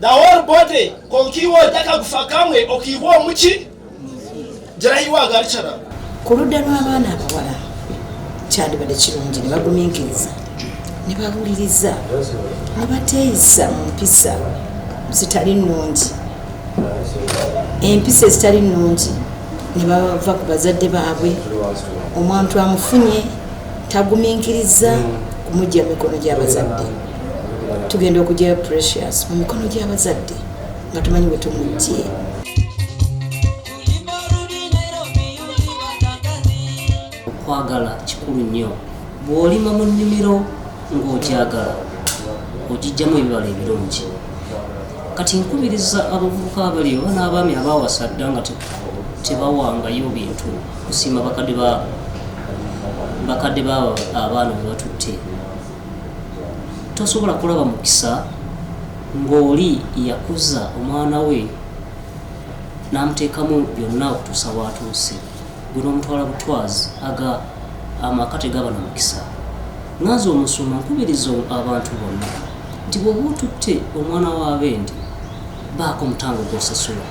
the whole body kokiwa ojaka gufa kamwe okiwa omuki jarayiwa agalicara ku ludda lw'abaana abawala kyandibadde kirungi ne bagumiikiriza ne bawuliriza ne bateeyisa mu mpisa zitali nnungi empisa ezitali nnungi ne bava ku bazadde baabwe omuntu amufunye tagumiikiriza kumugya mikono gy'abazadde tugenda okugyayo precious mu mikono gy'abazadde nga tumanyi bwe tumujjee okwagala kikulu nnyo bw'olima mu nnimiro ng'ogyagala ogijjamu ebibala ebirungi kati nkubiriza abavubuka abali oba n'abaami abawasa dda nga tebawangayo bintu kusiima bakadde baabo bakadde baabo abaana bwe batutte tosobola kulaba mukisa ng'oli yakuza omwana we n'amuteekamu byonna okutuusa waatuuse gwe n'omutwala butwazi aga amaka tegaba na mukisa nganze omusuma nkubiriza abantu bonna nti bwoba otutte omwana wa bendi baako omutango gwosasula